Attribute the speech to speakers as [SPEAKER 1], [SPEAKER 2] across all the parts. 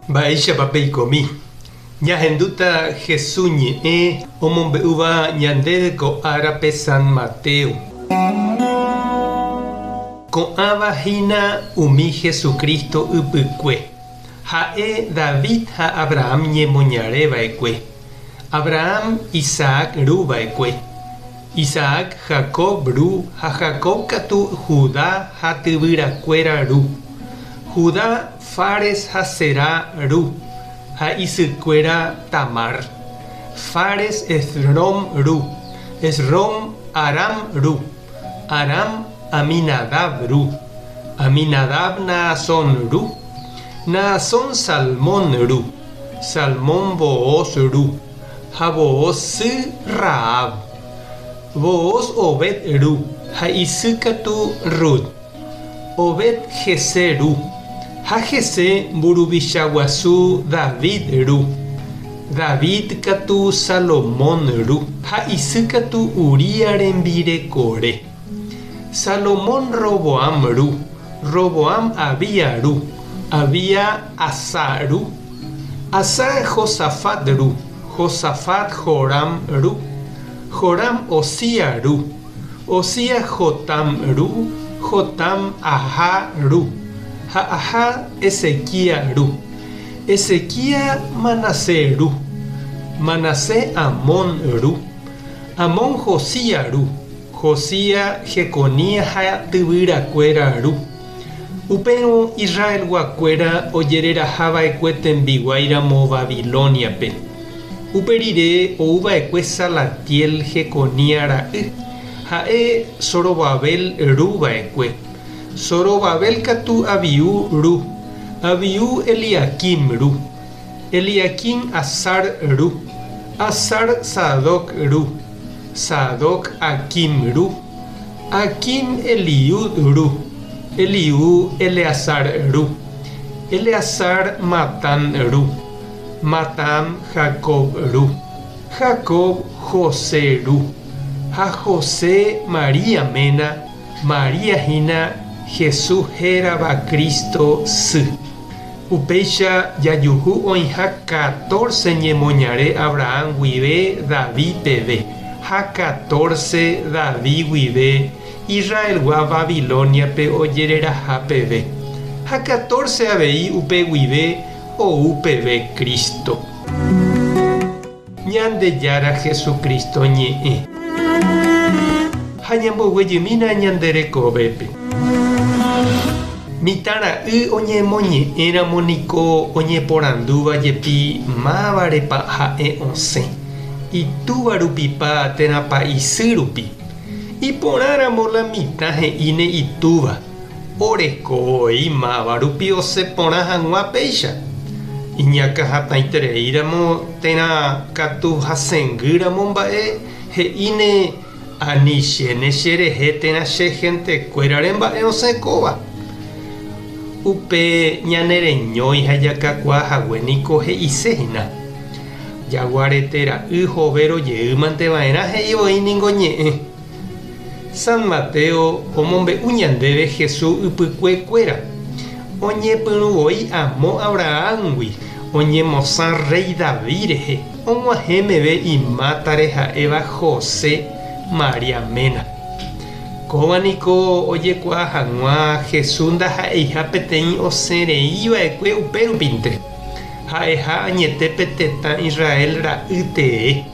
[SPEAKER 1] Mba'éichapa peikomi? Ñahendúta Jesús ñe'ẽ omombe'úva ñandéve ko árape San Mateo. Ko'ãva hína umi Jesucristo ypykue. Ha'e David ha Abraham ñemoñare va'ekue. Abraham Isaac ru va'ekue, Isaac Jacob ru ha Jacob katu Judá ha tyvyrakuéra ru, Judá Fares ha Zerá ru ha isykuéra Tamar, Fares Esrom ru, Esrom Aram ru, Aram Aminadab ru, Aminadab Naasón ru, Naasón Salmón ru. Salmón Booz Ru, ha Booz sy Rahab. Booz Obed Ru, ha isy katu Rut. Obed Jessé Ru, ha Jessé mburuvicha guasu David Ru. David katu Salomón Ru, ha isy katu Uría rembirekore. Salomón Roboam Ru, Roboam Abía Ru, Abía. Asá ru. Asá Josafat ru. Josafat Joram ru. Joram Osía ru. Osía Jotam ru. Jotam Ahá ru. Ha Ahá Ezequía ru. Ezequía Manasé ru. Manasé Amón ru. Amón Josía ru. Josía Jeconías ha tyvyrakuéra ru. Upérõ Israelguakuéra ojereraha va'ekue tembiguái ramo Babilóniape. Upe rire ou va'ekue Salatiel Jeconia ra'y, ha'e Zorobabel ru va'ekue. Zorobabel katu Abiú ru, Abiú Eliaquim ru, Eliaquim Azar ru, Azar Sadoc ru, Sadoc Aquim ru, Aquim Eliud ru, Eliud Eleazar ru, Eleazar Matán ru, Matán Jacob ru, Jacob José ru, ha José María ména, María hína Jesús hérava Cristo sy. Upéicha jajuhu oĩha catorce ñemoñare Abraham guive David peve, ha catorce David guive Israelgua Babilóniape ojereraha peve, ha catorce avei upe guive ou peve Cristo. Ñandejára Jesucristo ñe'ẽ. Ha ñamboguejymína ñande rekovépe. Mitã ra'y oñemoñe'ẽramo niko oñeporandúva jepi mávarepa ha'e osẽ, itúva rupipa térãpa isy rupi. Iporãramo la mitã he'íne itúva. oreko voi máva rupi osẽ porã hag̃ua péicha, iñakãhatãitereíramo térã katu hasẽngýramo mba'e he'íne ani chéne cherehe térã che hentekuérare mba'e osẽ kóva. Upe ñane reñói ha jakakuaa hague niko he'ise hína, Jaguarete ra'y Jovero jeýmante va'erã he'i oĩ ningo ñe'ẽ. San Mateo omombe'u ñandéve Hesu ypykue kuéra, oñepyrũ voi amo Abrahángui, oñemosã rréi David rehe, og̃uahẽ meve imátare ha'éva José, María ména. Kóva niko ojekuaa hag̃ua Hesu ndaha'eiha peteĩ osẽ rei va'ekue upérupinte, ha'eha añete pe tetã Israel ra'y tee.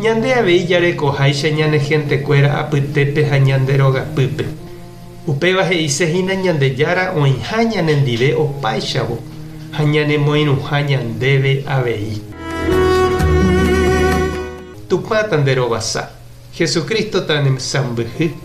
[SPEAKER 1] Ñande avei jarekoháicha ñane hentekuéra apytépe ha ñande rogapýpe. Upéva he'ise hína Ñandejára oĩha ñanendive opáichavo ha ñanemoirũha ñandéve avei. Tupãta nde rovasa, Jesucristo-ta ne sãmbyhy.